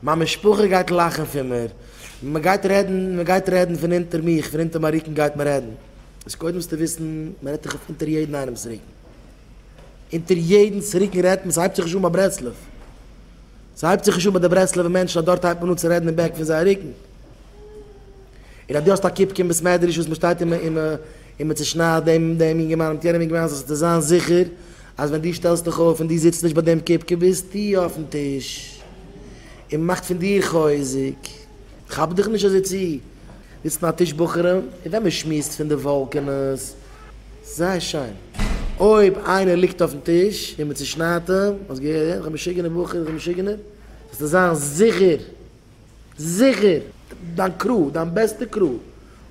מיין משפחה גייט לאכן פון מיר, מען גייט רעדן, מען גייט רעדן פון אונטער מיך, פון אונטער מיין רוקן גייט מען רעדן, איז קודם זאלסטו וויסן, מען רעדט תיכף אונטער יעדן איינעמ'ס רוקן, אונטער יעדנ'ס רוקן רעדט מען, ס'הייבט זיך נישט אן ביי ברסלב, ס'הייבט זיך נישט אן ביי די ברסלב'ע מענטשן אז דארט הייבט מען אן צו רעדן אין בעק פון זייער רוקן. און אז דו האסט א קיפ קום בית מדרש וואס מ'שטייט און און און מ'צושניידט דעם דעם יונגערמאן מיט יענעם יונגערמאן זאלסטו זיין זיכער אז ווען דו שטעלסט דיך אויף און דו זיצט נישט ביי דעם קיפקע ביזטו אויפן טיש און מ'מאכט פון דיר חוזק. כאפ דיך נישט אזוי צו, זיצט און א טיש בחורים מיט וועם מ'שמועסט פון די וואלקענעס, זייער שיין. אויב איינער ליגט אויפן טיש און מ'צושניידט אים, האסט געהערט? דער משוגענער בחור, דער משוגענער, זאלסטו זיין זיכער. זיכער, דיין קראו, דיין בעסטע קראו.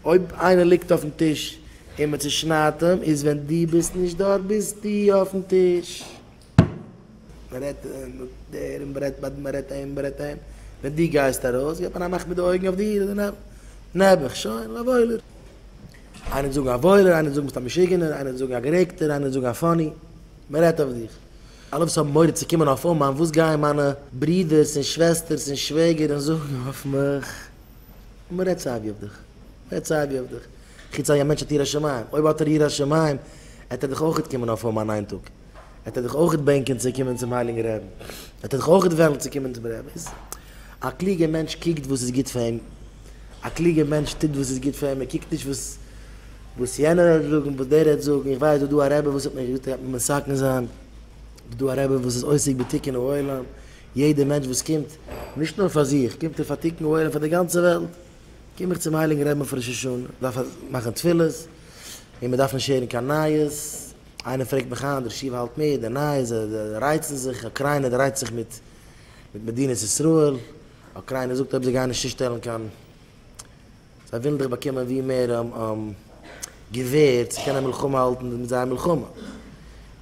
אויב איינער ליגט אויפן טיש און מען צושניידט אים, איז ווען דו ביסט נישט דארט ביסטו אויפן טיש. מען רעדט דער און מען רעדט ביי מען רעדט אהין מען רעדט אהין. ווען דו גייסט ארויס געט מען א מאך מיט די אויגן אויף דיר און דערנעבן. נעבעך, שוין, א וואוילער. איינער וועט זאגן א וואוילער, איינער וועט זאגן ביסט א משוגענער, איינער וועט זאגן א גערעגטער, איינער וועט זאגן א פאני. מען רעדט אויף דיך. אלע וואס האבן מורא צו קומען אויף אומאן, וואס גייען מיינע ברודערס און שוועסטערס און שוועגער און זאגן אויף מיך? מען רעדט סייווי אויף דיך. מען רעדט סייווי אויף דיך. חוץ אויב א מענטש האט יראת שמים. אויב האט ער יראת שמים, עט ער דיך אויכעט קומען אויף אומאן איין טאג. עט ער דיך אויכעט בענקען צו קומען צום הייליגן רעבן. עט ער דיך אויכעט וועלן צו קומען צום רעבן. א קלוגער מענטש קוקט וואס איז גוט פאר אים. א קלוגער מענטש טוט וואס איז גוט פאר אים, ער קוקט נישט וואס יענער האט זאגן, וואס דער האט זאגן, איך ווייס דא איז דא א רבי וואס האט מיך געזאגט ער גייט מיר מסכן זיין, דא דא א רבי וואס איז עוסק בתיקון העולם, יעדער מענטש וואס קומט, נישט נאר פאר זיך, קומט ער פאר תיקון העולם פאר די גאנצע וועלט, קום איך צום הייליגן רבי'ן אויף ראש השנה, דארף איך מאכן תפילות, און מען דארף נישט הערן קיין נייעס, איינער פרעגט מיך היינט, דער שו ע האלט מיט די נייעס, זיי רייצן זיך, אוקריינע רייצט זיך מיט מדינת ישראל. אוקריינע זאגט אויב זיי גייען נישט צושטעלן קיין זיי ווילן דאך באקומען ווי מער געווער צו קענען מלחמה האלטן מיט זייער מלחמה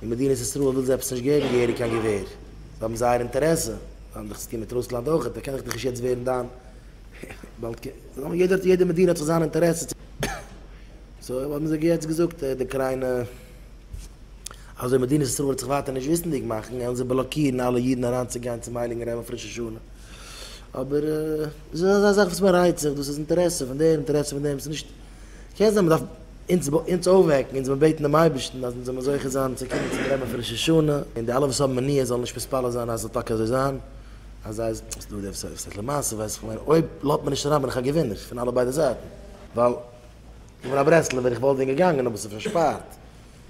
און מדינת ישראל וויל זיי עפעס נישט געבן געהעריג קיין געווער זיי האבן זייער אינטערעסע זיי האבן דאך צוטון מיט רוסלאנד אויכעט דער קען דאך נישט יעצט ווערן דיין באלד יעדער יעדער מדינה האט זיך זיין אינטערעסע צו סאו האבן זיי יעצט געזאגט די אוקריינע. אזוי מדינת ישראל וועט זיך ווייטער נישט וויסענדיג מאכן וועלן זיי בלאקירן אלע אידן אריינצוגיין צום הייליגן רב אויף ראש השנה. אבער דאס איז אזא זאך וואס מען רייצט זיך, דאס איז אינטערעסע פון דעם, אינטערעסע פון דעם, ס'איז נישט, קען זיין מ'דארף אונז אונז אויפוועקן, אונז מיר בעטן דעם אייבערשטן אז אונז זאלן זוכה זיין צו קומען צום רב אויף ראש השנה, און די אלע וואס האבן מניעות זאלן נישט מתפלל זיין אז ס'זאל טאקע אזוי זיין, אז זיי ז. וואס דא דער סוף? ס'הייסט למעשה ווייס איך מיין אויב לאזט מען נישט אריין בין איך א געווינער פון אלע ביידע זייטן, ווייל איך בין א ברסלב'ער איך וואלט ווען געגאנגען אבער ס'איז פארשפארט.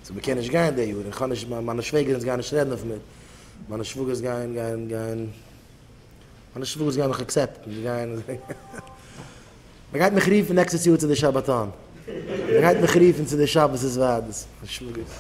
צו מען קען נישט גיין די יאר, איך האב נישט, מיינע שוועגערינס גייען נישט רעדן אויף מיר, מיינע שוואגערס גייען גייען גייען, מיינע שוואגערס גייען מיך עקסעפטן, זיי גייען, מען גייט מיך רופן נעקסטעס יאר צו די שבתון, מען גייט מיך רופן צו די שבת איז וועד, שוואגערס.